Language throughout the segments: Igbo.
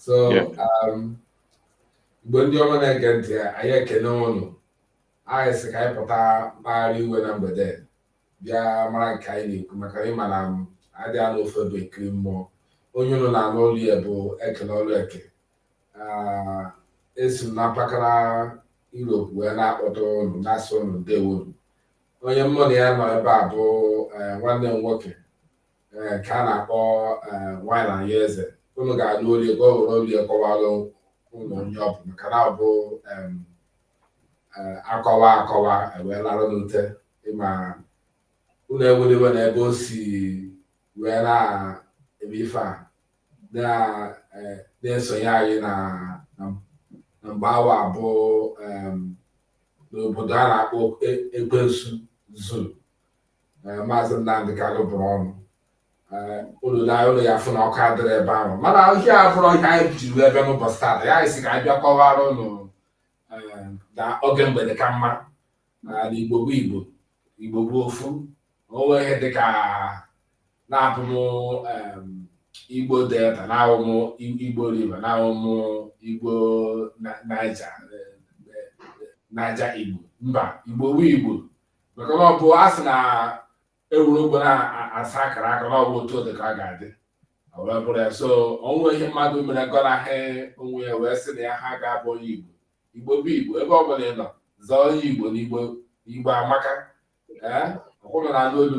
so um, igbo ndị ọma na-ege ntị anyị ekene ụnụ anyị sị ka anyị pụta mkpagharị iwe na mgbede bịa mara nke anyị na-ekwu maka na ịma na adị anọ ofu ebe ekiri mmụọ onye ụnụ na-anụ olu ya bụ ekele ọlụ eke ah, esi m na mpaghara Europe wee na-akpọtụ ụnụ na-asị ụnụ ndewo onye mụ na ya nọ ebe a bụ eh, nwanne m nwoke eh, ka a na-akpọ eh, wine anyị eze unu ga-anụ olu ya ka o were olu ya kọwara unu onye ọ bụ maka na ọ bụ em, eh, akọwa akọwa ewee larụ n'ute ma unu ewela iwe na ebe o si wee na-eme ife a na- eh, na-esonye anyị na na- na mgbe awa abụ em, n'obodo a na-akpọ E- ekwensu zoo eh, maazị Nnamdị Kanu bụrụ ọnụ eh, unu na ụlọ ya fụ na ọkụ adịrọ ebe ahụ mana ihe a abụrọ ihe anyị jiri ebe n'ụbọchị taata anyị sị ka anyị bịa kọwara ụnụ eh, na oge mgbede ka mma na igbo bụ igbo igbo bụ ofu onwe ihe dị ka na abụ m em, igbo delta na awụ m I- igbo river na awụ m igbo Na- naija eh, eh, naija igbo mba igbo bụ igbo maka na ọ bụ a sị na ewere ogbo na-asa akara aka na ọ bụ otu ọ dị ka ọ ga-adị O wee bụrụ ya so onwe ihe mmadụ mere gọnahị onwe ya wee sị na ya ha ga-abụ onye igbo igbo bụ igbo ebe ọ bụla ị nọ zaa onye igbo na igbo igbo amaka ee ọkwa unu na-anụ olu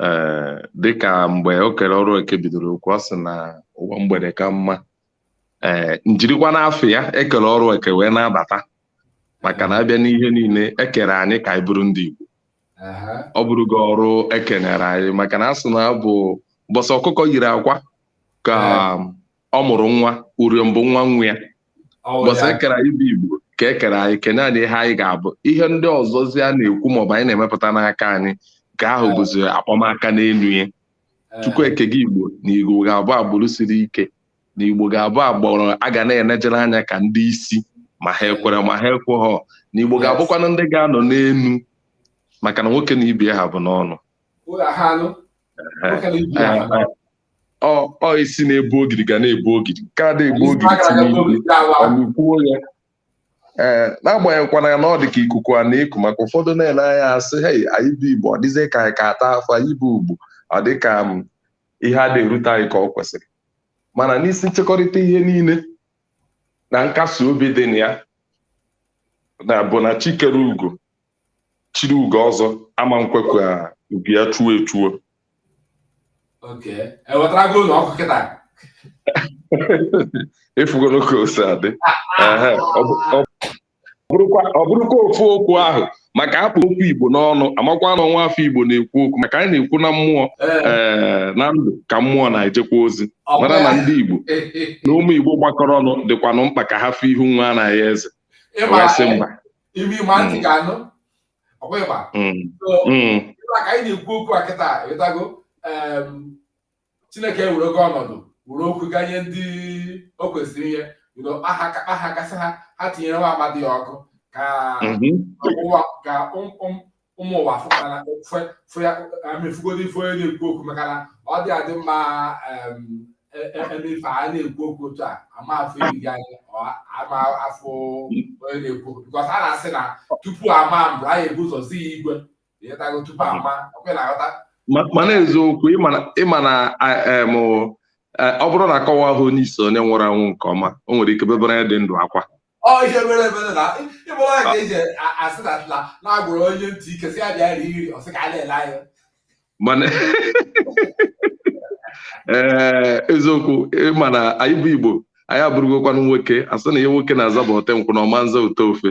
ee dịka mgbe ekere ọrụ eke bidoro okwu ọ sị na ụwa mgbede ka mma ee njirikwa n'afa ya ekere ọrụ eke wee na-abata maka na abịa n'ihe niile ekere anyị ka anyị bụrụ ndị Igbo ọ bụrụgo ọrụ ekenyere anyị maka na asị na ọ bụ mbọsị ọkụkọ yiri akwa ka ọ mụrụ nwa uriom bụ nwa nwa ya mbọsị ekere anyị bụ igbo ka ekere anyị kenye anyị ihe anyị ga-abụ ihe ndị ọzọzi a na-ekwu maọbụ anyị na-emepụta n'aka anyị nke ahụ bụzi akpọmaka n'elu ya chukwu eke gị igbo na igbo ga-abụ agbụrụ siri ike na igbo ga-abụ agbụrụ a ga na-enejere anya ka ndị isi ma ha ekwere ma ha ekweghọ na igbo ga-abụkwanụ ndị ga-anọ n'elu maka na nwoke na ibe ya ha bụ n'ọnụ ọ isi na-ebu ogidi ga na-ebu ogidi nke ada ebu ogidi tinyekwuo ya ee n'agbanyeghịkwana na ọ dị ka ikuku a na-eku maka ụfọdụ na-ele anya asị hei anyị bụ igbo ọ dịzie ka anyị ka ata afọ anyị bụ igbo ọ dị ka ihe ada erute anyị ka ọ kwesịrị mana n'isi nchekọrịta ihe niile na nkasi obi dị na ya na bụ na chi kere igbo chiri ugo ọzọ ama nkwe ka ugo ya chuo echuo Okay. Ewetarago ụlọ ọkụ kịta. afụgoro ka o si adị Ehe, ọ bụ- ọ bụrụkwa ọ bụrụkwa ofu okwu ahụ maka a kpụ okwu igbo n'ọnụ a makwa na ọ nwa afọ igbo na-ekwu okwu maka anyị na-ekwu na mmụọ Ee, ee na ndụ ka mmụọ na-ejekwa ozi ọ bụ mara na ya. ndị igbo na ụmụ igbo gbakọrọ ọnụ dịkwanụ mkpa ka ha fụ ihu nwa anaghị eze Ị ma, wee sị mba imi ma ntị ga-anụ ọkwa ịgba ịgba ka anyị na-ekwu okwu a kịta ịghọtago chineke were ogo ọnọdụ were okwu ganye ndị o kwesịrị inye bido aha ka aha gasị ha ha tinyere nwa amadi ya ọkụ ka o nwuwa ka ụmụ ụmụ ụwa fụkwara fụ ya amefugodi ife onye na-ekwu okwu maka na ọ dị adị mma emefe a na-ekwu okwu otu a ama afọ iri gị anya ama afụ onye na-ekwu okwu bikọs a na-asị na tupu ama mbụ anyị ebu ụzọ zi ya igwe ịghọtago tupu ama ọkwe na-aghọta mana eziokwu ịma na ọ bụrụ na akọwa ahụ onye isi onye nwụrụ anwụ nke ọma o nwere ike bebere onye dị ndụ akwa ọ ihe mere mere na ịbụrụ ya ka eji asị na atla na-agwụrụ onye ntị ike sị ya bịa rie nri ọ sị ka a na-ele anya mana ee eziokwu ịma na anyị bụ igbo anyị abụrụgokwanụ nwoke asị na ihe nwoke na-aza bụ ote nkwụ na ọ ma nza ụtọ ofe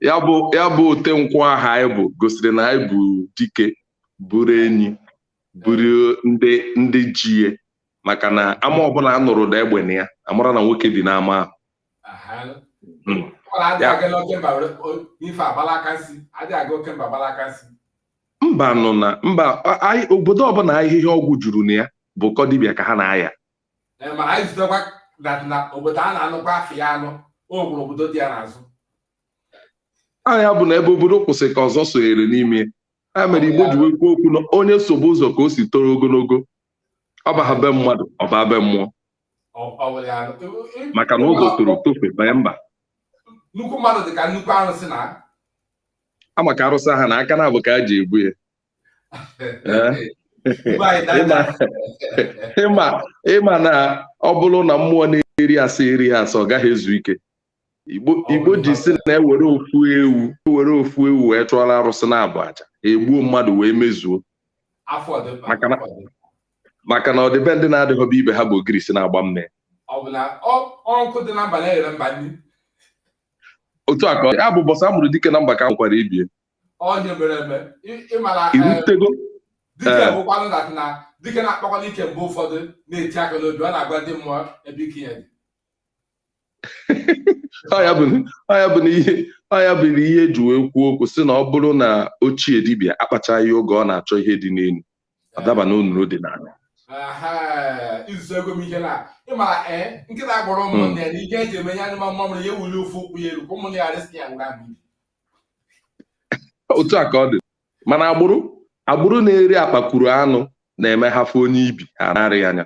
ya bụ ote nkwụ ahụ anyị bụ gosiri na anyị bụ dike bụrụ enyi bụrụ ndị ndị ji maka na ama ọbụla a nụrụ ụda egbe na ya a mara na nwoke bi n'ama ahụ hmm. mba nọ na mba obodo ọbụla ahịhịa ọgwụ juru na ya bụ ụkọ dibịa ka ha na-aya aha ya bụ na ebe obodo kwụsị ka ọzọ sonyere n'ime ya mere igbo ji wee kwuo okwu na onye sobe ụzọ ka o si toro ogologo ọ baha be mmadụ ọ baa be mmụọ maka na ụzọ toro tofe banye mba nnukwu mmadụ dị ka nnukwu arụsị na a ma ka arụsị ha na aka na-abụ ka a ji ebu ya ịma na ọ bụrụ na mmụọ na-eri asaa erighị asaa ọ gaghị ezu ike igbo ji sị na e were ofu ewu e were ofu ewu wee chụọla arụsị naabọ aja e gbuo mmadụ wee mezuo maka na ọ dị be ndị na-adịghọ be ibe ha bụ ogirisi na-agba mme otu a ka ya bụ mbọsị a mụrụ dike na mba ka a mụkwara ibe ya irutego dike na-akpakwanụ ike mgbe ụfọdụ na-eti aka n'obi ọ na-agwa ndị mmụọ ebe ike ya dị ọ ya bụ na ihe ọ ya bụ na ihe eji wee kwuo okwu sị na ọ bụrụ na ochie dibịa akpachaghị oge ọ na-achọ ihe dị n'elu ọ daba na onuru dị n'ala izuego m ihe na ịma eh, nkịta gwara hmm. ụmụnne ya na ihe o ji eme ya anyụma mamịrị ya eweli ofu ụkwụ ya elu ka ụmụnne ya resị ya ngwa otu a ka ọ dị mana agbụrụ agbụrụ na-eri akpakwuru anụ na-eme ha fụ onye ibi ha na-arị anya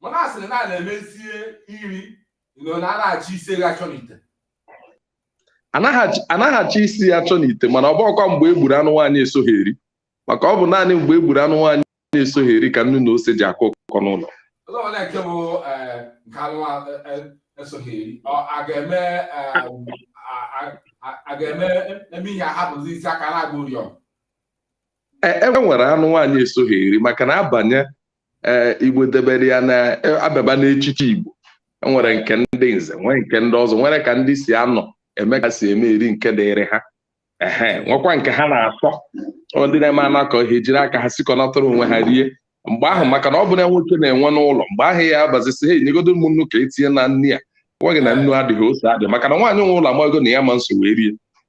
mana a sịrị na a na-emezie nri na anaghị achọ isi ewu achọ n'ite anaghị achọ isi ya achọ n'ite mana ọ bụkwa mgbe e gburu anụ nwaanyị esoghị eri maka ọ bụ naanị mgbe e gburu anụ nwaanyị esoghị eri ka nnu na ose ji akọ ụkọ n'ụlọ a ga-eme eme ihe ahapụzi isi aka na-agba ụrịọm e, e nwere anụ nwaanyị esoghị eri maka na abanye e, Igbo debere ya na a bịaba n'echiche Igbo e nwere nke ndị nze nwee nke ndị ọzọ nwere ka ndị si anọ eme ka si eme eri nke dịrị ha ehe nwekwa nke ha na-asọ ndị na-eme anakọ ihe jiri aka ha sikọnatara onwe ha rie mgbe ahụ maka na ọ bụ na nwoke na-enwe n'ụlọ mgbe ahụ ya abịazie sị ha nyegodo m nnu ka e tinye na nri a gwa gị na nnu adịghị ose adị maka na nwaanyị nwe ụlọ amago na ya ama nso wee rie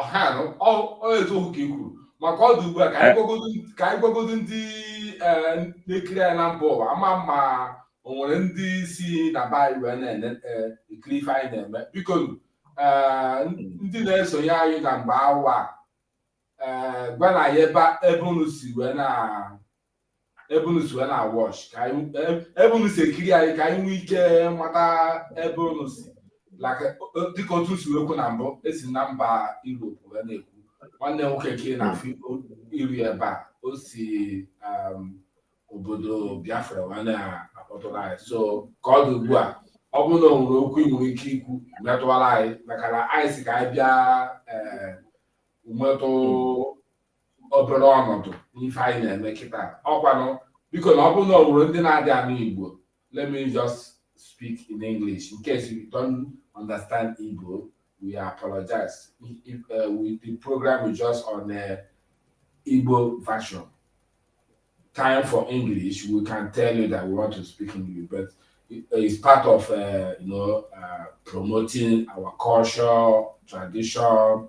ọhanụ eziokwu ka i kwuru ma ka ọ dị ugbu a ka anyị gwagodo ndị e, na-ekiri anyị na mba ụwa ama ma o nwere ndị si na be anyị wee na-ekiri e, ife anyị na-eme biko e, ndị na-esonye anyị na mgbe awa gwanụ anyị ebe unu si wee na ebe unu si wee na-watch ka anyị e- ebe unu si ekiri anyị ka anyị nwee ike mata ebe unu si like o- dịka otu si wee kwu na mbụ esi na mba Europe wee na-ekwu nwanne m nwoke nke na-afụ iru ebe a o si um, obodo Biafra wee na-akpọtụrụ anyị so ka ọ dị ugbu a ọ bụrụ na o nwere okwu ị nwere ike ikwu metụwara anyị maka na anyị sị ka anyị bịa ee, nwetụ obere ọnọdụ n'ife anyị na-eme kịta ọkwanụ biko na ọ bụrụ na o nwere ndị na-adị anụ Igbo let me just speak in English in case you don't understand Igbo we apologize if, uh, we, the program is just on uh, Igbo version time for English we can tell you that we want to speak English but it's part of uh, you know uh, promoting our culture tradition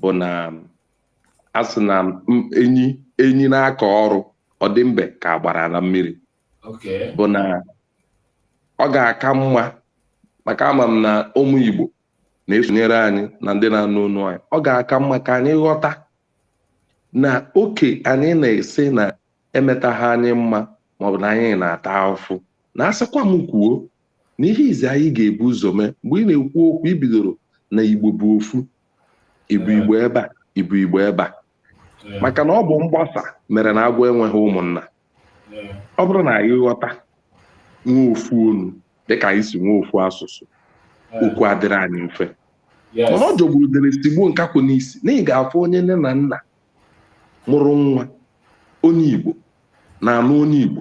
bụ na a sị na enyi enyi na-akọ ọrụ ọ dị mbe ka agbara na mmiri bụ na ọ ga-aka mma maka ama m na ụmụ Igbo na-esonyere anyị na ndị na-anụ onu anyị ọ ga-aka mma ka anyị ghọta na okwu anyị na-ese na emetaghị anyị mma maọbụ na anyị na-ata afụfụ na asịkwa m kwuo na ihe izi anyị ga-ebu ụzọ mee mgbe ị na-ekwu okwu ibidoro na igbo bụ ofu ị bụ igbo ebe a ị bụ igbo ebe a maka na ọ bụ mgbasa mere na agwọ enweghị ụmụnna ọ bụrụ na anyị ghọta nwe ofu onu dịka anyị si nwe ofu asụsụ okwu adịrị anyị mfe mana ọ jọgburu udele sigbuo nkakwụ n'isi na ị ga-afụ onye nne na nna mụrụ nwa onye Igbo na-anụ onye Igbo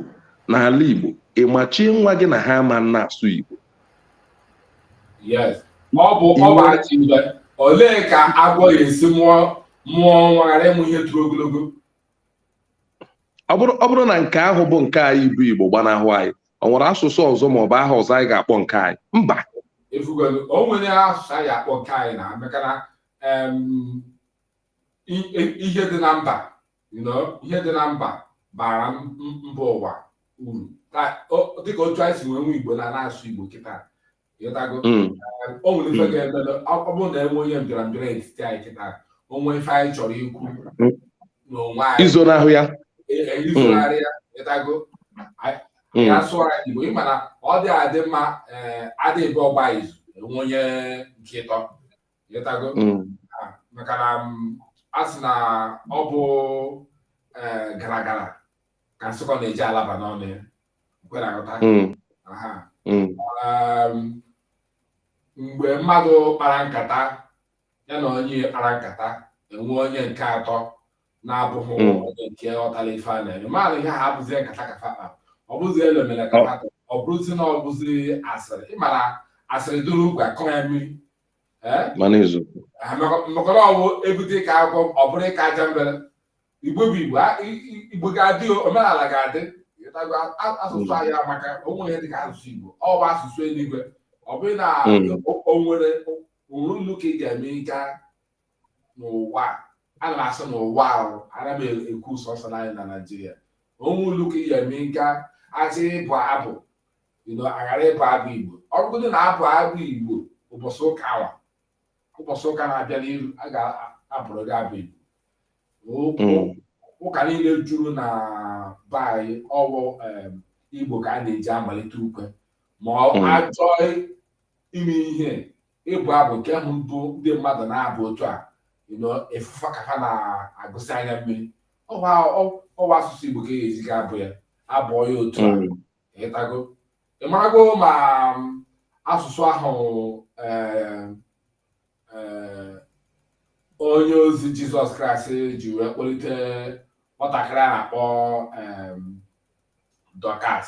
n'ala Igbo ị machie nwa gị na ha ama na-asụ Igbo ọ bụ ọbachimbe olee ka agwọ ya esi mụọ mụọ nwa ghara ịmụ ihe toro ogologo ọ bụrụ na nke ahụ bụ nke anyị bụ Igbo gbanahụ anyị ọ nwere asụsụ ọzọ ma ọ bụ aha ọzọ anyị ga-akpọ nke anyị mba o nwere asụsụ anyị akpọ nke anyị na maka na ihe dị na mba ihe dị na mba bara mba ụwa uru dịka otu anyị si nwee nwe igbo na na-asụ igbo kịta ịghọtago hmm. o nwere ife hmm. ga-eme ọ bụrụ na e nwe onye mbịara mbịara etiti anyị kịta o nwe ife anyị chọrọ ikwu hmm. n'onwe anyị izonahụ ya e, e, izonarị ya ịghọtago ya sụọ anyị igbo ị ma na ọ dị adị mma eh, a dị abụọ gba izu e nwe onye nke ịtọ ịghọtago mm. ah, maka na mm, a sị na ọ bụ eh, gara gara ka nsụkọ na-eji alaba n'ọnụ ya kwe na aghọta mm. um, mgbe mmadụ kpara nkata ya na onye kpara nkata e nwe onye nke atọ na-abụghị onye nke ọtara ife a na-eme mmadụ ihe ha abụzie nkata ka fa kpa ọ bụzi elu mere ka fa ọ bụrụzi na ọ bụzi asịrị ị mara asịrị duru ugwu akọ ya mmiri mana eziokwu mekọrọ ọwụ ebute ka akwụkwọ ọ bụrụ ịka aja mbere igbo bụ igbo igbo ga-adị omenala ga-adị asụsụ anyị amaka o nwe ihe dịka asụsụ igbo ọ bụ asụsụ eluigwe ọ bụghị na hmm. o nwere o nwere ụlọ ụka ị ga-eme nka n'ụwa ana m asị n'ụwa ahụ ana m ekwu sọsọ anyị na naijiria o nwere ụlọ ụka ị ga-eme nka a chọ ịbụ abụ ịnọ a ghara ịbụ abụ igbo ọ bụgodị na abụ abụ igbo ụbọchị ụka awa ụbọchị ụka na-abịa n'iru a ga-abụrụ gị abụ igbo Ụka- ụka niile juru na be anyị ọ wụ em, igbo ka a na-eji amalite ukwe ma ọ Mm. achọọ ime ihe ịbụ abụ nke ahụ bụ ndị mmadụ na-abụ otu a ị fụ fa ka ha na-agụsị anya mmiri ọ wụ asụsụ Igbo ka e ga-eji ga abụ ya abụọ ya otu a hmm. ịtago ị marago ma asụsụ ahụ eh, eh, onye ozi jizọs kraịst ji wee kpọlite nwatakịrị a na-akpọ dọkas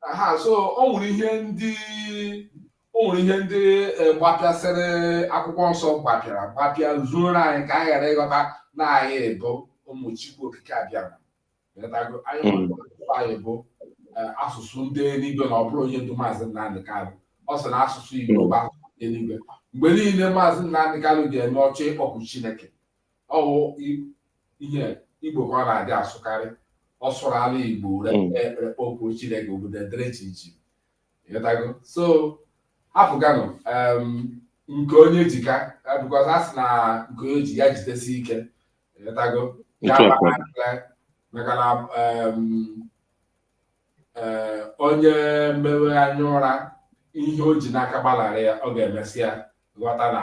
aha so o nwere ihe ndị o nwere ihe ndị eh, gbapịasịrị akwụkwọ nsọ gbapịara gbapịa zuoro anyị ka anyị ghara ịghọta na anyị bụ ụmụ Chukwu okike Abịama Ị ghọtago? anyị Mm. nwere asụsụ anyị bụ eh, asụsụ ndị eluigwe na ọ bụrụ onye ndu maazị Nnamdị Kanụ ọ sị na asụsụ Igbo bụ asụsụ ndị eluigwe mgbe niile maazị Nnamdị Kanụ ga-eme ọ chọọ ịkpọku Chineke ọ wụ ihe igbo ka ọ na-adị asụkarị ọ sụrụ ala igbo hmm. kpọkuo chineke obodo edere chi ichi ịghọtago so hapụganụ nke onye ji ka because a sị na nke onye ji ya jidesi ike ị ghọtago maka na eh, onye mewe anya ụra ihe o ji n'aka gbalarị ya ọ ga-emesịa ghọta na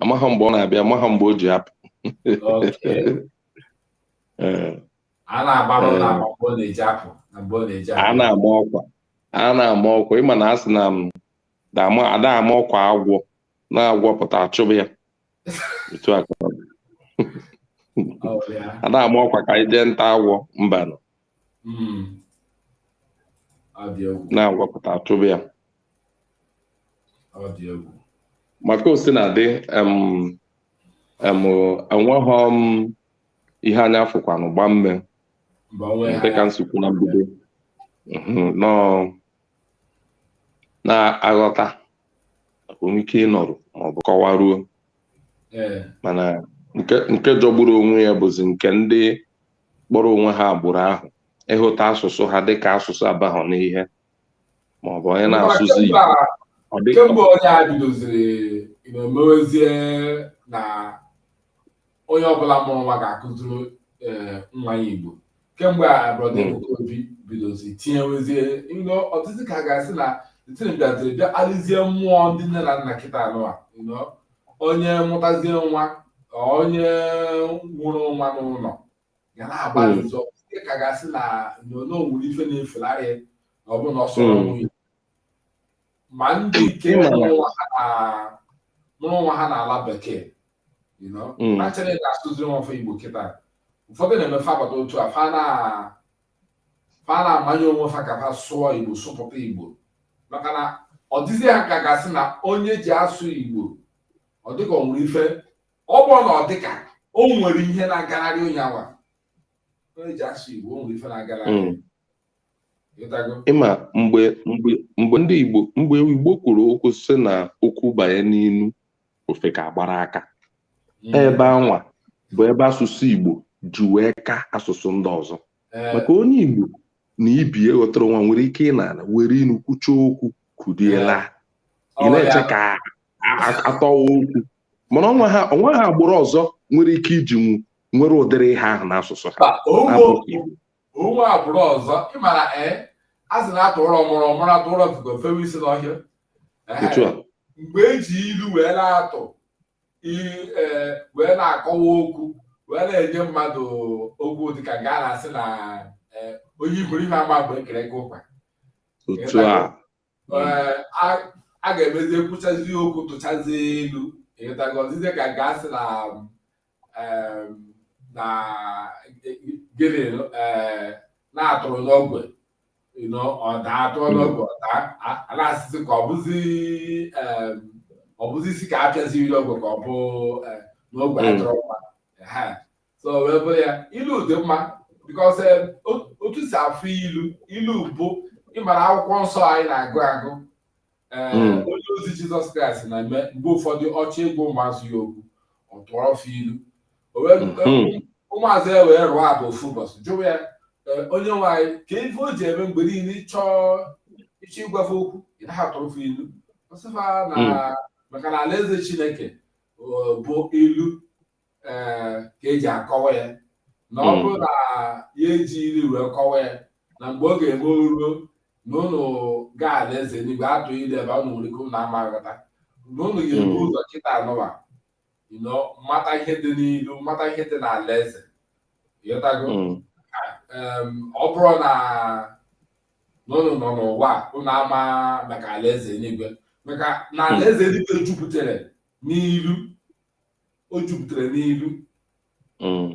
amaghị mgbe ọ na-abịa amaghị mgbe o ji apụ a na-agba ọkwa a na-ama ọkwa ị ma na a sị na ada ama ọkwa agwọ na agwọ pụta a chụba ya otu a ada ama ọkwa ka anyị jee nta agwọ mbanụ hmm. na agwọ pụta a chụba ya maka ọ sị na adị enweghị m ihe anya fụkwanụ gbaa mmee dịka m si kwuo na mbido na-aghọta maka o nwe ike ịnọrụ maọbụ kọwaruo mana nke jọgburu onwe ya bụzi nke ndị kpọrọ onwe ha agbụrụ ahụ ịhụta asụsụ ha dịka asụsụ abahọ n'ihe maọbụ onye na-asụzi Igbo ọ dị ka kemgbe onye a bidoziri na o mewezie na onye ọbụla mụrụ nwa ga-akụziri eh, nwa ya igbo kemgbe a brọda Mm. Ebuka Obi bidozi tinyewezie you know ọ dịzi ka a ga-asị na tinye bịaziri bịa kpalizie mmụọ ndị nne na nna kịta anụwa you know onye mụtazie nwa onye mụrụ nwa n'ụlọ ya na-agbalị hmm. ọ dịzie ka a ga-asị na you know o nwere ife na-efularị na ọ bụ na ọ sụrọ hmm. you know ma ndị nke mụrụ nwa ha n'ala bekee hmm. na chọrọ ka a sụziri nwa fa igbo kịta ụfọdụ na-eme ife agbata otu a fa na fa na-amanye onwe fa ka fa sụọ igbo sụpụta igbo maka na ọ dịzi ha ka a ga-asị na onye ji asụ igbo ọ dịka ọ nwere ife ọ bụ na ọ dịka o nwere ihe na-agalarị onye awa onye ji asụ igbo o nwere ife na-agalarị mm. ị ma mgbe mgbe mgbe ndị igbo mgbe igbo kwuru okwu sị na okwu banye n'inu ofe ka agbara aka Mm. ebe anwa bụ ebe asụsụ Igbo ji wee ka asụsụ ndị ọzọ Eh, maka onye Igbo na ibe ya ghọtara onwe ha nwere ike ịnọ ana were inu kwucha okwu kunie laa ị ọ na-eche ya- ka a- a- atọwa okwu mana o nweghị o nweghị agbụrụ ọzọ nwere ike iji nwu nwere ụdịrị ihe ahụ n'asụsụ ha Mba, o nwe na-abụghị okwu Igbo. o nwe agbụrụ ọzọ ịmara ee eh, a sị na atụọrọ ọmụrụ ọ mụrụ atụọrọ ofeke o fewe isi n'ọhịa eh, mgbe eji ilu wee na-atụ eh, wee na-akọwa okwu wee na-enye mmadụ okwu dịka nke a na-asị na onye iberibe ama mgbe ekere nkụ ụkwa a ga-emezi ekwuchazi okwu tụchazi ilu ịghọtago ọ dịzie ka a ga-asị na na gịnị na atụrụ n'ogwe ọ daa atụọ n'ogwe ọ daa a na-asịzi ka ọ bụzi ọ bụzi isi ka apịaziri ogwe ka ọ bụ n'ogwe atụrụ mma so wee bụrụ ya ilu dị mma because eh, otu si afụ ilu ilu bụ ịmara akwụkwọ nsọ anyị na-agụ agụ eh, hmm. onye ozi jizọs kraịst na-eme mgbe ụfọdụ ọ chọọ ịgwa ụmụazụ ya okwu ọ tụọrọ fa ilu hmm. eh, ụmụazụ ya wee ruo abụ ofu ụbọchị jụwa ya onye nwe anyị kee ife o ji eme mgbe niile ịchọ ịchọ ịgwa fa okwu ị na-atụrụ fa ilu ọ sị fa na hmm. maka na alaeze chineke bụ ilu ee eh, ka eji akọwa ya na ọ hmm. bụrụ na ya eji ilu wee kọwa ya na mgbe ọ ga-eme o ruo na ụnụ gaa ala eze enigwe atụọ ilu ebe ụnụ nwere ike ụnụ ama aghọta na ụnụ ga-ebu hmm. ụzọ kịta a n'ụwa mata ihe dị n'ilu mata ihe dị n'ala eze ịghọtago hmm. ọ bụrụ na ụnụ nọ n'ụwa ụnụ ama maka ala eze enigwe maka na ala eze enigwe jupụtara n'ilu o jupụtara n'ilu mm.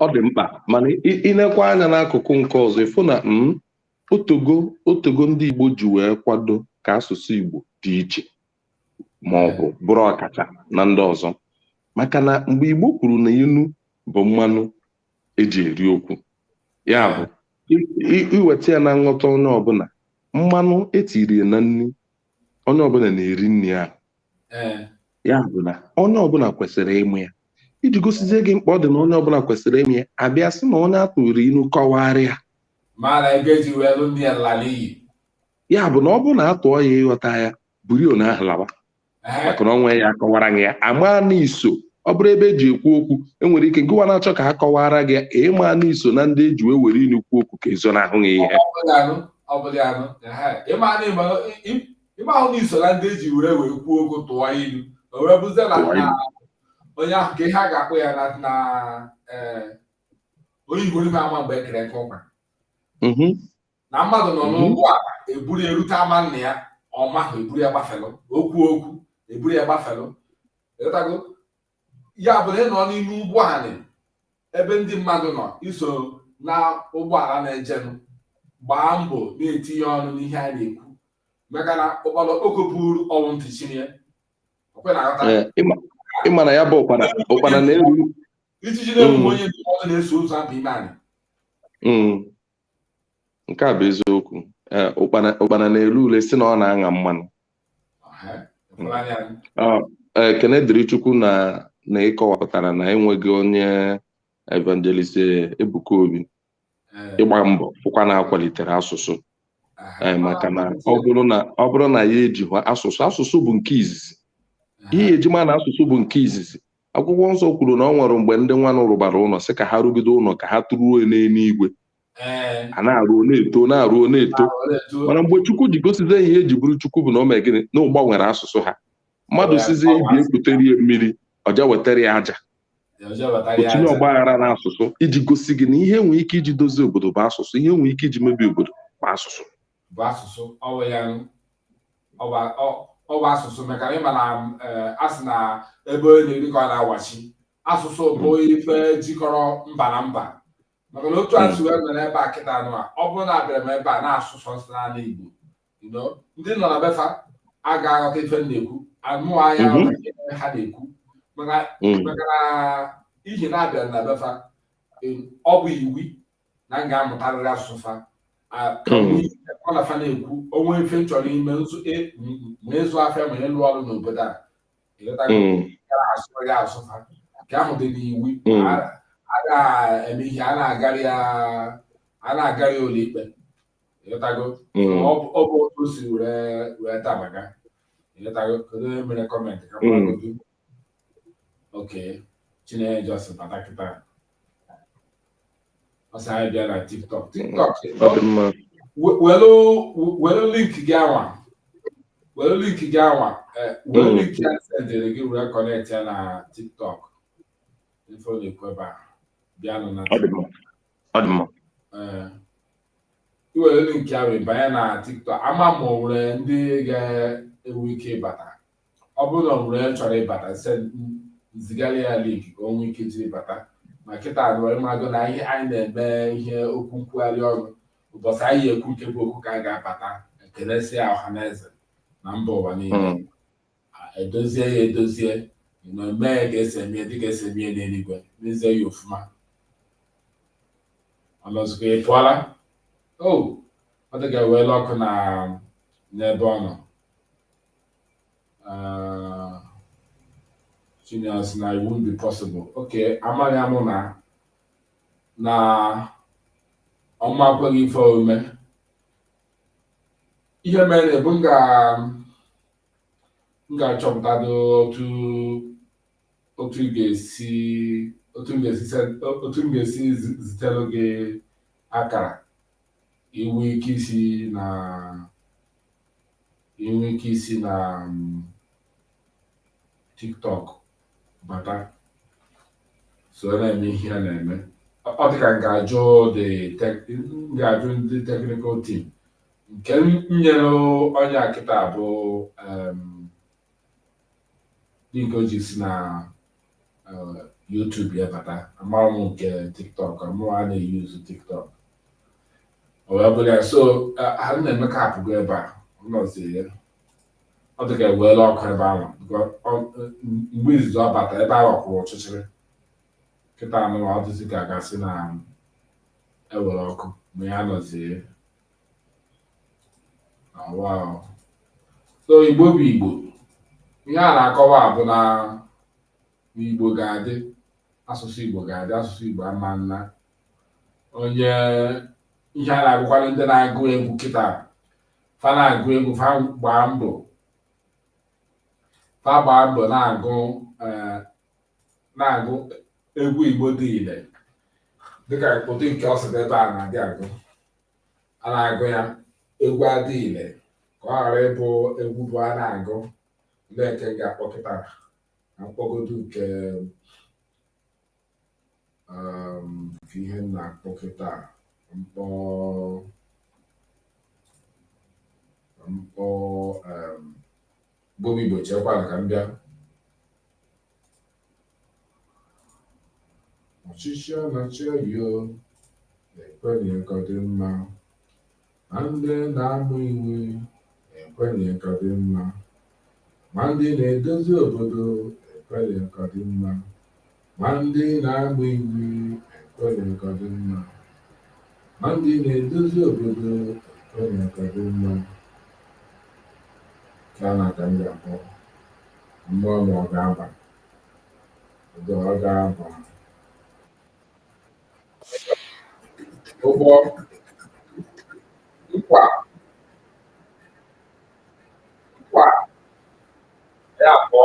ọ dị mkpa mana ịnekwa anya n'akụkụ nke ọzọ ịfụ na mm, o tego o tego ndị Igbo ji wee kwado ka asụsụ Igbo dị iche ma ọ bụ bụrụ ọkacha na ndị ọzọ maka na mgbe Igbo kwuru na inu bụ mmanụ eji eri okwu ya bụ iweta ya na nghọta onye ọbụla mmanụ etiri na nri onye ọbụla na-eri nri ahụ eh. ya bụ na onye ọbụla kwesịrị ịmụ ya iji gosizie gị mkpa ọ dị na onye ọbụla kwesịrị ịmụ ya abịa sị na onye atụrụ inu kọwara ya ya bụ na ọ bụrụ na atụọ ya ịghọta ya buru n'ahụ lawa eh. maka na ọnwa ya akọwara gị ya ama na iso ọ bụrụ ebe eji ekwu okwu enwere ike gịwa na-achọ ka a kọwara gị ịma na iso na ndị eji wee were inu kwuo okwu ka ezonahụ gị ihe ọ bụrụ ya nụ ịma na ịma ị mahụ na iso na ndị eji were were kwuo okwu tụọ ilu o wee bụzie na Tụọ ilu. na onye ahụ ka ihe a ga-akpọ ya na na eh, onye iberibe ama mgbe ekere nkụ ụkwa Mhm. na mmadụ nọ Mhm. n'ụgbọala eburu ya erute ama nna ya ọ mahụ eburu ya gbafelụ okwu okwu eburu ya gbafelụ ịghọtago ya bụ na ị nọ n'ime ụgbọ anị ebe ndị mmadụ nọ iso na ụgbọala na-ejenụ gbaa mbọ na-etinye ọnụ n'ihe a na-ekwu maka na ụkpana okpoko buru ọ wụ ntị chili e ọkwa ị na-aghọta Ee, ịma- ịma na ya bụ ụkpana ụkpana na-eru ijiji na-enwe Mm. onye ndụmọdụ na-eso ozu aba ime anị Mm. nke a bụ eziokwu eh, ụkpana na-ele ule sị na ọ na-aṅa mmanụ ah, eh, ekene dịrị chukwu na na ịkọwapụtara na enweghị onye evangelist Ebuka Obi eh. ịgba mbọ fụkwa na akwalitere asụsụ maka na ọ bụrụ na ya eji asụsụ asụsụ bụ nke izizi ihe eji ma na asụsụ bụ nke izizi akwụkwọ nsọ kwuru na ọ nwere mgbe ndị nwanụ rụbara ụlọ sị ka ha rụgide ụlọ ka ha tụruo n'eluigwe a na-arụ na-eto na-arụ na-eto mana mgbe chukwu ji gosizie ihe eji bụrụ chukwu bụ na o mee gịnị na ọ gbanwere asụsụ ha mmadụ sịzie ibe ya kutere ya mmiri ọ ja wetara ya aja o tinye ọgba aghara na asụsụ iji gosi gị na ihe enwee ike iji dozie obodo bụ asụsụ ihe enwee ike iji mebie obodo bụ asụsụ bụ asụsụ ọ wụ ya ọ wụ asụsụ maka na ịma na eh, a sị na ebe onye na-eri ka ọ na-awachi asụsụ bụ ife jikọrọ mba na mba maka na otu asụ wee mere ebe a kịta anụ a ọ bụrụ na abịara m ebe a na-asụ sọsọ naanị Igbo you know, ndị nọ na befa a ga-aghọta ife m na-ekwu anụ ahịa Mhm. aghọta ihe ha na-ekwu maka Mm. maka n'ihi na abịara na befa eh, ọ bụ iwu na m ga-amụtarịrị asụsụ fa ka m na fa na-ekwu o nwee ife m chọrọ ime e, ma ịzụ afịa ma ịlụ ọrụ n'obodo a asụrịghị asụsụ fa nke ahụ dị n'iwu a na-eme ihe a na-agarị ya a na-agarị ụlọ ikpe ịghọtago ọ bụ otu o si were dabaga ịghọtago kedu onye mere kọmentị ka okay Chinenye just bata kịta ọ sị anyị bịa na tiktok tiktok ọ dị mma welu welu link anwa welu link anwa eh, welu Mm. link a sendịrị gị were kọnekt ya na tiktok ife ọ na-ekwu ebe a bịanụ na ọ dị mma ọ dị mma Eh, i were link ya wee banye na tiktok ama ma o nwere ndị ga-enwe ike ịbata ọ bụrụ na o nwere onye chọrọ ịbata sị m zigara ya link ka o nwee ike jiri bata ma kịta nụ ị mago na ihe anyị na-eme ihe okwu nkwugharị ọnụ ụbọchị anyị ekwu nke bụ okwu ka a ga-abata ekelesịa ọha na eze na mba ụwa niile hmm. edozie ya edozie na mee ka esi emie dịka esi emie n'eluigwe mezie ya ọfụma ọnọzụkwa ị pụọla o ọ dị ka eweela ọkụ na n'ebe ọ nọ Uh, Genius, na it won't be possible. Okay, amaghị amụ na na ọma akweghị ife omume ihe mere bụ m ga-achọpụtado otu otu m ga-esi otu m ga-esi otu m ga-esi zitelu gị akara i nwee ike isi na i nwee ike isi na mm, tiktok bata so na-eme ihe a na-eme Ọ- ọ dịka m ga-ajụ the tech- m ga-ajụ ndị technical team nke m nyere onye a kịta bụ em, link o ji si na eh, YouTube ya bata amara m nke TikTok mụwa a na-euse TikTok o wee bụrụ ya so eh, Nnaemeka apụgo ebe a ọ nọzi ya ọ dị ka eweela ọkụ ebe ahụ because ọ- eh, mgbe izizi ọ bata ebe ahụ kwụrụ ọchịchịrị kịta nụwa ọ dịzi ka a ga-asị na ewere ọkụ ma ya nọzie so igbo bụ igbo ihe a na-akọwa bụ na igbo ga-adị asụsụ igbo ga-adị asụsụ igbo ama ana onye ihe a na-akọwara ndị na-agụ egwu kịta fa na-agụ egwu fa gbaa mbọ fa gbaa mbọ na-agụ eh, na-agụ egwu Igbo dị ile dịka ụdị nke Osadebe a na-adị agụ a na-agụ ya egwu adị ile ka ọ ghara ịbụ egwu bụ a na-agụ ndị nke m ga-akpọ kịta na m kpọgodu nke um, nke ihe m na-akpọ kịta m kpọọ m kpọọ um, Igbo bụ Igbo chekwara ka m bịa ọchịchị a na-achị ọyọ ekwenye ka ọ dị mma ma ndị na-ama iwu ekwenye ka ọ dị mma ma ndị na-edozi obodo ekwenye ka ọ dị mma Ma ndị na-agba iwu ekwenye ka ọ dị mma, ma ndị na-edozi obodo ekwenye ka ọ dị mma. Ka na ka m ga-akpọ mmụọ ma ọ ga-aba, ụdọ ọ ga-aba. Ụgbọ nkwa nkwa ya abụọ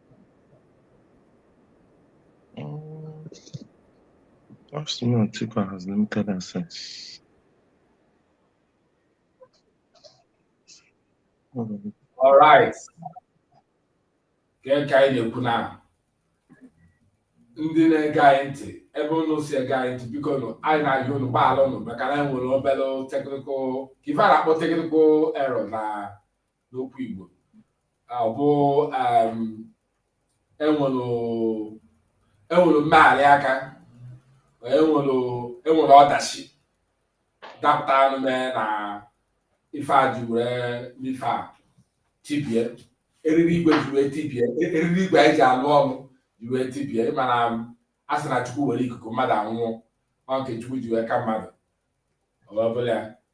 Austin Antigua has limited access. All right. Nke anyị na-ekwu na ndị na-ege anyị ntị ebe ụnụ si ege anyị ntị biko nụ anyị na-ayọ ụnụ gbaghara ụnụ maka na anyị nwere obere technical ife a na-akpọ technical error na n'okwu Igbo ọ bụ um, enwere enwere mmegharị aka enwere ọdachi dapụtanụ mee na ife a ji wee n'ife a tibie eriri igwe ji wee tibie e, eriri igwe anyị ji alụ ọrụ ji wee tibie mana a sị na Chukwu were ikuku mmadụ anwụọ ọ nke Chukwu ji wee ka mmadụ ọ bụla ya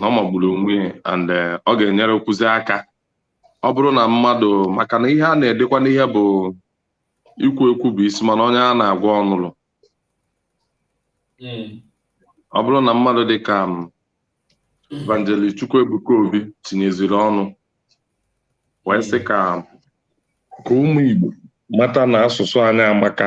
na ọ magburu onwe ya and eh, ọ ga-enyerekwuzi aka ọ bụrụ na mmadụ maka na ihe a na-edekwa n'ihe bụ ikwu ekwu bụ isi mana onye a na-agwa ọ nụlụ hmm. ọ bụrụ na mmadụ dị ka mm, Evangelist Chukwuebuka Obi tinyeziri ọnụ wee sị ka ka ụmụ Igbo mata na asụsụ anyị amaka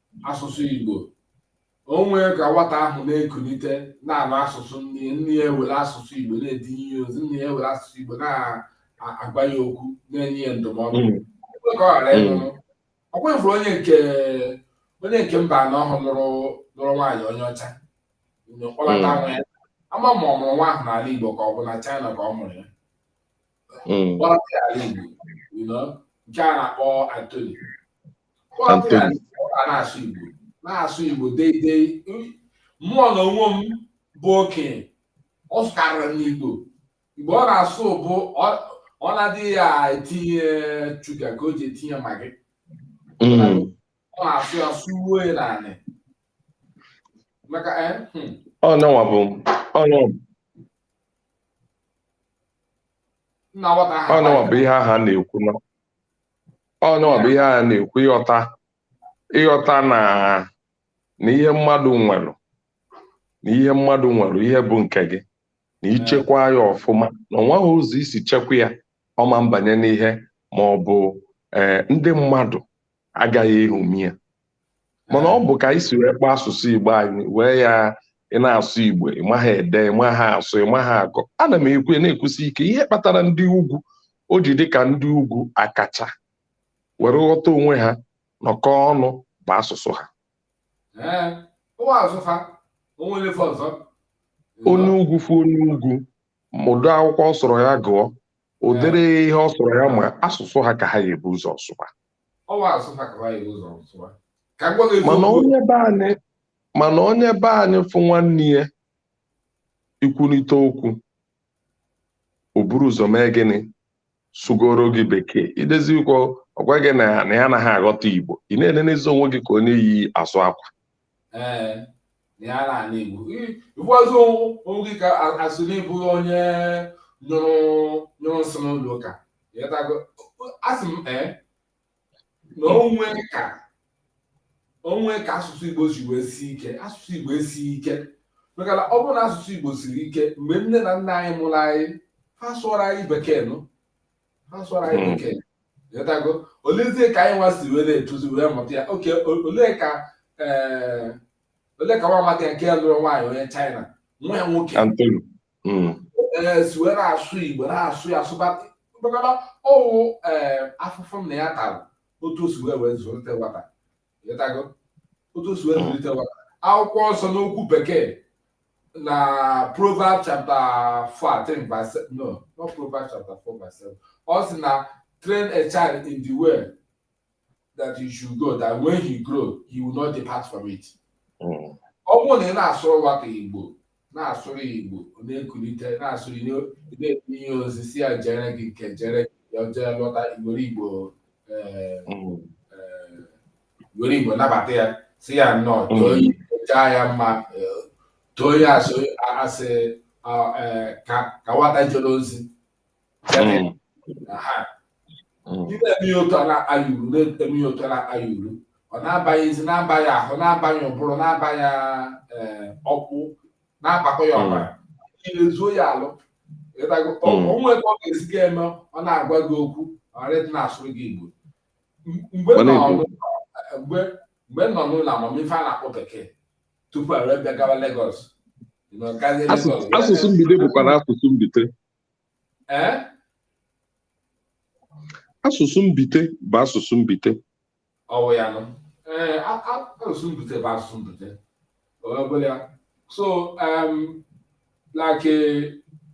asụsụ Igbo o nwee ka nwata ahụ na-ekunite na-anụ asụsụ nne nne ya ewere asụsụ Igbo na-edunye ya ozi nne ya ewere asụsụ Igbo na-agwa ya okwu na-enye ya ndụmọdụ hmm. ekwe ka ọ ghara hmm. ịnụrụ ọ kwa ị furu onye nke onye nke Mbanọ ahụ nụrụ nụrụ nwaanyị onye ọcha kpọlata hmm. nwa ya ama ma ọ mụrụ nwa ahụ n'ala Igbo ka ọ bụ na China ka ọ mụrụ ya kpọlata ya ala Igbo nke a na-akpọ Antoni na-asụ Igbo na-asụ Igbo deidei mụ na onwe m bụ okenye ọ sụkarịrị m Igbo Igbo ọ na-asụ bụ ọ na-adịghị ya etinye sugar ka o ji etinye Maggi hmm. ọ na-asụ ya sụruo ya n'anị maka eh, hmm. ọ nọwa bụ ọ nọwa ọnụwa bụ ihe ahụ a na-ekwu ọ ya nwa bụ ihe anyị na-ekwu ịghọta ịghọta na na ihe mmadụ nwere na ihe mmadụ nwere ihe bụ nke gị na i chekwaa ya ọfụma na o nweghị ụzọ i si chekwaa ya ọ ma mbanye n'ihe ma ọ bụ ee ndị mmadụ agaghị eṅomi ya mana ọ bụ ka anyị si wee kpaa asụsụ Igbo anyị wee ya ị na-asụ Igbo ị maghị ede ị maghị asụ ị maghị agụ ana m ekwu na-ekwusi ike ihe kpatara ndị ugwu o ji dị ka ndị ugwu akacha were ghọta onwe ha nọkọ ọnụ bụ asụsụ ha onye ugwu fụ onye ugwu ụdị akwụkwọ ọ sọrọ ya gụọ ụdịrị ihe ọ sọrọ ya ma asụsụ ha ka ha ga-ebu ụzọ sụba mana onye be anyị fụ nwanne ya ikwurịta okwu o buru ụzọ mee gịnị sụgoro gị bekee idezikwa ọ gwa gị na ya anaghị aghọta igbo ị na-enenezi onwe gị ka onye yi azụ akwa ee ya n'ala igbo ị fụbazie onwe gị ka a sị na ị bụ onye nyụrụ nyụrụ nsị n'ụlọ ụka ị ghọtago asị m ee na o nwe ka o nwe ka asụsụ igbo si wee sie ike asụsụ igbo esighị ike maka na ọ bụrụ na asụsụ igbo siri ike mgbe nne na nna anyị mụrụ anyị ha sụọrọ anyị bekee nụ olezie ka anyị nwa si wee na-etozi wee mụta ya okay olee ka eh, olee ka nwa amadi nke lụrụ nwaanyị onye China nwa ya nwoke hmm. eh, si wee na-asụ Igbo na-asụ ya asụbata ọ wụ eh, afụfụ nna ya tara otu o si wee wee zụlite nwata otu o si wee zụlite nwa akwụkwọ nsọ n'okwu bekee na proverb chapter 14 verse no not proverb chapter 4 verse 7 ọ sị na train a child in the way that you should go that when he grow he will not depart from it hmm. ọ bụrụ na ị na-asụrụ nwata igbo na-asụrụ ya igbo ọ na-ekulite na-asụrụ ya na-enye ya ozi sị ya jere gị nke jere gị ya jee lọta i were igbo eh, Mm. eh, were igbo nabata ya sị ya nnọọ Mm. too ya jaa ya mma eh, too ya a sị a sị ah, eh, ka ka nwata jere ozi ị na-eme ya otu a na-akpa ya uru na-eme ya otu a na-akpa ya uru ọ na-abanyezi na-aba ya ahụ na-aba ya ụbụrụ na-aba ya eh, ọkpụ na-abakọ ya ọbara niile zuo ya alụ ị ghọtago Mm. o nwe ka ọ ga-esi gị eme ọ na-agwa gị okwu ọrịdị na-asụrụ gị igbo M- mgbe Ọ nọ na-ekwu. n'ụlọ- mgbe mgbe m nọ n'ụlọ amamife a na-akpọ bekee tupu a wee bịagawa Lagos nọ gazie Asụ- Lagos wee- asụsụ mbite bụkwara asụsụ mbite ee asụsụ mbite bụ asụsụ mbite ọ wụ ya nụ ee a- a- asụsụ mbite bụ asụsụ mbite ọbụla ya so em, like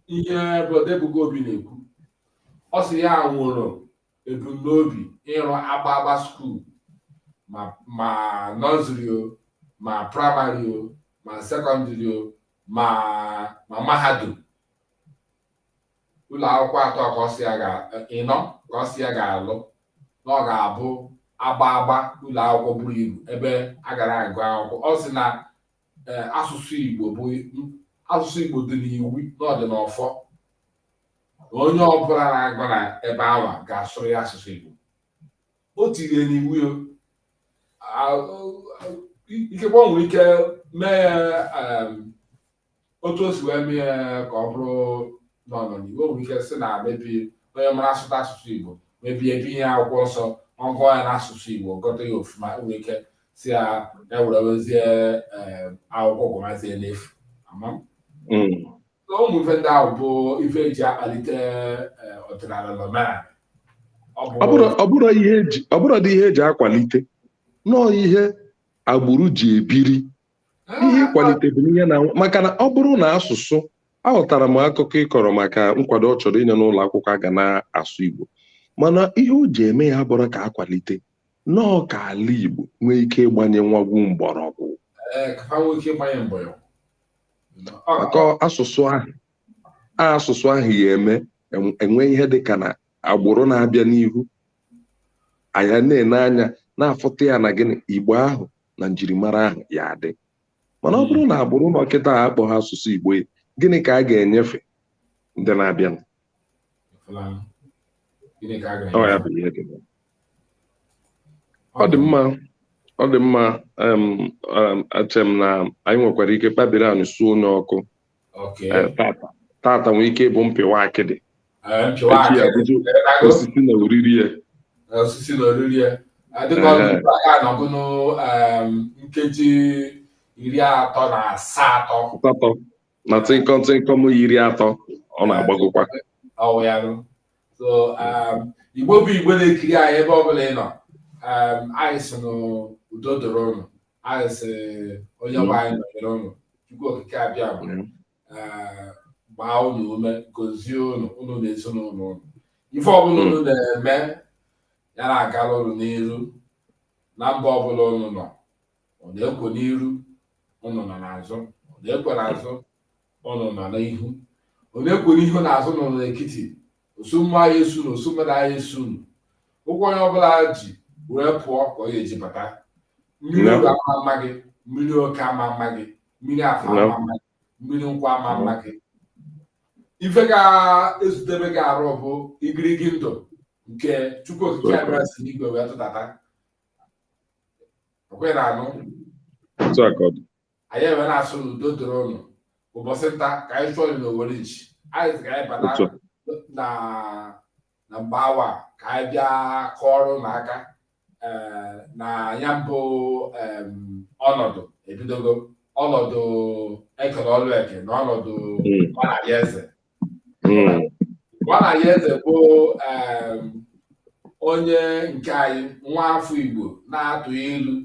ihe brọda Ebuka Obi na-ekwu ọ sị ya nwere ebumnobi ịrụ agba agba skuul ma ma nọziri o ma praịmarị o ma sekọndịrị o ma ma mahadum ụlọ akwụkwọ atọ ka ọ sị ya ga ịnọ ka ọ sị ya ga-alụ na ọ ga-abụ agba agba ụlọ akwụkwọ buru ibu ebe a gara agụ akwụkwọ ọ sị na eh, asụsụ Igbo bụ asụsụ Igbo dị n'iwu na ọ dị n'ọfọ onye ọbụla na-agụ na ebe anwa ga-asụrụ ya asụsụ Igbo o tiri n'iwu ya ikekwe ọ nwere ike mee ya otu o si wee mee ya ka ọ bụrụ nọ n'ọdịnihu o nwere ike sị na mebi onye mara asụta asụsụ Igbo mebi e bunye akwụkwọ nsọ ọ gụọ ya n'asụsụ Igbo gọta ya ofuma nwere ike sị ya ya were wezie akwụkwọ gụmazie n'efu ama m hmm. na ụmụ ife ndị ahụ bụ ife eji akpalite eh, ọdịnala na omenala ọ bụ Ọ bụrụ- ọ bụrụ ihe eji- ọ bụrụ dị ihe eji akwalite nọọ ihe agbụrụ ji ebiri ihe ịkwalite bụ ihe na-anwụ maka na ọ bụrụ na asụsụ aghọtara m akụkọ ị kọrọ maka nkwado ọ chọrọ inye n'ụlọ akwụkwọ a ga na-asụ Igbo mana ihe o ji eme ya bụrụ ka a kwalite nọọ ka ala Igbo nwee ike ịgbanye nwagwu mgbọrọgwụ Eh, ka ha nwee ike ịgbanye mbọ ya maka asụsụ ahụ asụsụ ahụ ya eme e nwee ihe dị ka na agbụrụ na-abịa n'ihu a ya na-ene anya na-afụta ya na gịnị igbo ahụ na njirimara ahụ ya adị mana ọ bụrụ na agbụrụ nọ kịta akpọhọ asụsụ igbo gịnị ka a ga-enyefe ndị na-abịanụ ọ dị mma ọ dị mma ache m na anyị nwekwara ike kpabiri anyị suo onye ọkụ tata nwee ike ịbụ mpịwa akịdị osisi na oriri ya osisi na oriri ya dịka ọgụgụ aka na ọgụnụ nkeji iri atọ na asaa atọ na tịnkọm tịnkọm iri atọ ọ na-agbagokwa ọ wụ ya nụ so um, igbo bụ igbo na-ekiri anyị ebe ọbụla ị nọ um, anyị sị na udo doro ụnụ anyị sị onyenwe anyị nọnyere ụnụ chukwu okike abịama uh, gbaa ụnụ ume gozie ụnụ ụnụ na ezinụlọ ụnụ ife ọbụla ụnụ na-eme ya na-agara ụnụ n'iru na mba ọbụla ụnụ nọ ọ na-ekwo n'iru ụnụ nọ n'azụ ọ na-ekwo n'azụ ụnụ nọ n'ihu ọ na-ekwo n'ihu na azụ ụnụ nọ n'etiti osu mmụọ aya esu unu osu mmadụ aya esu unu ụkwụ onye ọbụla ji wee pụọ ka ọ ga-eji bata mmiri oye ama ama gị mmiri eke ama ama gị mmiri afọ ama ama gị mmiri nkwọ ama ama gị ife ga-ezutebe gị arụ bụ igirigi ndụ nke chukwu okike abịama si n'igwe wee tụdata okwere anụ otu a ka ọ dị anyị ewere na-asị n'udo dịrị ụnụ ụbọchị nta ka anyị chụọ na owere nchi anyị sị ka anyị bata Otu na na mgbe awa a, ka anyị bịa kụọrọ ụnụ aka eh, na ya bụ em, ọnọdụ ebidogo ọnọdụ Ekene Ọlụeke na ọnọdụ Mm. nwa Anayo Eze nwa Anayo Eze bụ onye nke anyị nwa afọ Igbo na-atụ ilu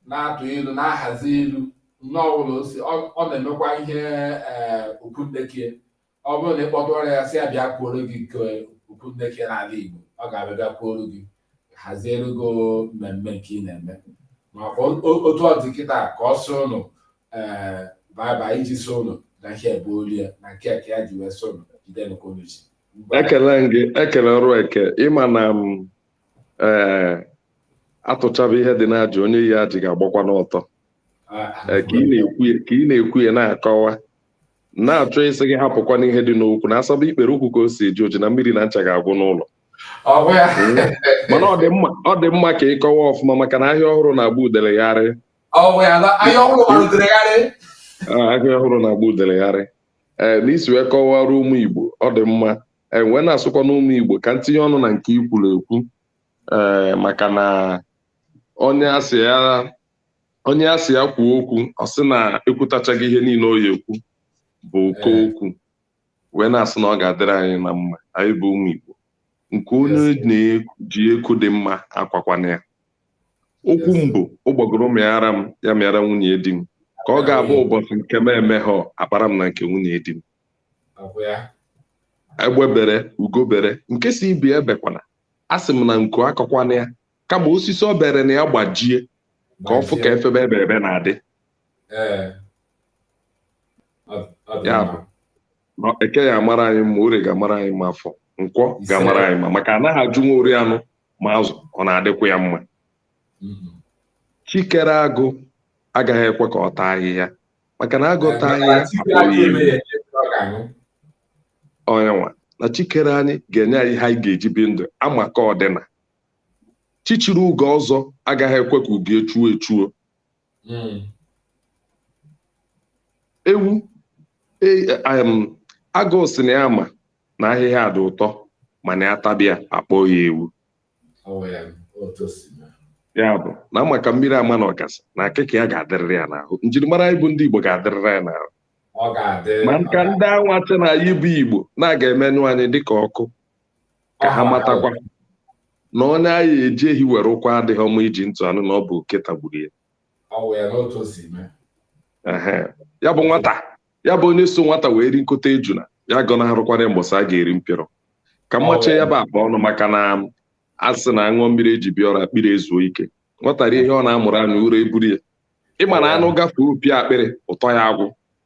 na-atụ ilu na-ahazi ilu nne ọbụla osi ọ na-emekwa ihe eh, okwunnekie ọ bụrụ na ị kpọtụọrọ ya sị ya bịa kwuoro gị nke okwunnekie n'ala Igbo ọ ga-abịa bịa kwuoro gị haziere gị mmemme nke ị na-eme maka otu ọ dị kịta ka ọ sị ụnụ ee eh, baba iji sị ụnụ na ihe ebe olu ya na nke ka ya ji wee sị ụnụ jide nke unu ji ekene m gị Ekene Ọlụeke ịma na m mm, ee eh, atụchaba ihe dị n'ajị onye yi ajị ga-agbakwa n'ọtọ ah, ah, eh, ka ị na-ekwu ya na-akọwa na-achọ ịsị gị hapụkwa n'ihe dị n'okwu na asaba ikpere ụkwụ ka o si eji oji na mmiri na ncha ga-agwụ n'ụlọ mana ọ dị mma ka ị kọwa ọfụma maka na ahịa ọhụrụ na-agba udele gharịị ahịa ọhụrụ na-agba udele gharịị ee na i si wee kọwara ụmụ Igbo ọ dị mma wee na-asịkwanụ ụmụ Igbo ka m tinye ọnụ na nke i kwuru ekwu ee maka na onye asị ya onye a sị ya kwuo okwu ọ sị na ekwutachago ihe niile ọ ya ekwu bụ ụkọ okwu wee na-asị na ọ ga-adịrị anyị na mma anyị bụ ụmụ Igbo nke onye na-eji eku dị mma akwakwana ya okwu mbụ ụgbọgụrụ mịara m ya mịara nwunye di m ka ọ ga-abụ ụbọchị nke m emehọ akpara m na nke nwunye di m egbe bere ugo bere nke si ibi ebekwana a sị m na nku akwakwana ya kama osisi ọ bere na ya gbajie ka ọ fụ ka efebe ebe ebe na-adị ya bụ na eke ya amara anyị mma orie ga-amara anyị mma afọ nkwọ ga-amara anyị mma maka anaghị ajụ nwa o rie anụ ma azụ ọ na-adịkwa ya mma mm-hmm. chi kere agụ agaghị ekwe ka ọ taa ahịhịa maka na agụ taa ahịhịa onye nwa na chi kere anyị ga-enye anyị ihe anyị ga-eji bi ndụ ama ka ọdịna chichiri ugo ọzọ agaghị ekwe ka ugo echuo echuo hmm. ewu e, agụ sị na ya ma na ahịhịa dị ụtọ mana ya taba ya a kpọọ ya ewu ya bụ na amaka mmiri ama na ọgazị na akịka ya ga-adịrịrị ya n'ahụ njirimara anyị bụ ndị Igbo ga-adịrịrị anyị n'ahụ maka ndị anwa sị na anyị bụ Igbo na a ga-emenyụ anyị dịka ọkụ ka ha matakwa na onye anyị eji ehi were kwa adịghị ọma iji ntị anụ na ọ bụ oke tagburu ya ya bụ nwata ya bụ onye so nwata wee ri nkọtọ ejuna ya agọnarụkwana mbọsị a ga-eri mpịrọ ka m machie ya bụ akpa ọnụ maka na a sị na aṅụọ mmiri eji bịa ọrụ akpịrị ezuo ike nwata rie ihe ọ na-amụrụ anya ụra eburu ya ịma na anụ gafee opi akpịrị ụtọ ya agwụ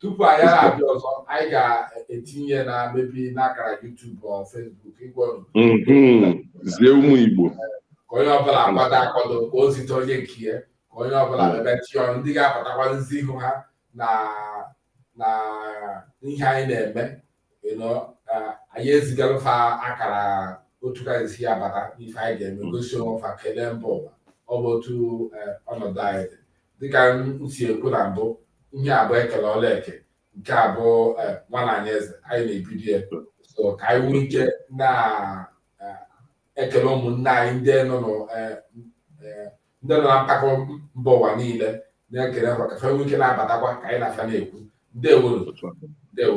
tupu anyị abịa ọzọ anyị ga-etinye na maybe n'akara YouTube or Facebook ịgwa mhm. zie ụmụ Igbo ka onye ọbụla akwado akwado ka o zite onye nke ya ka onye ọbụla maybe chọọ ndị ga-apụtakwa zi ihu ha na na ihe anyị na-eme anyị ezigalụ fa akara otu ka esi ya bata ife anyị ga-eme gosi onwe fa kelee mba ụwa ọ bụ otu eh, ọnọdụ anyị dị dịka m si ekwu na mbụ ihe abụọ ekele ọla eke nke abụọ eh, nwa nna anyị eze anyị na-ebido ya so ka anyị nwee ike na-ekele eh, ụmụnne anyị ndị nọ na mpako mba ụwa niile na-ekele ha ka fa nwee ike na-abatakwa ka anyị na fa na-ekwu ndewo ndewo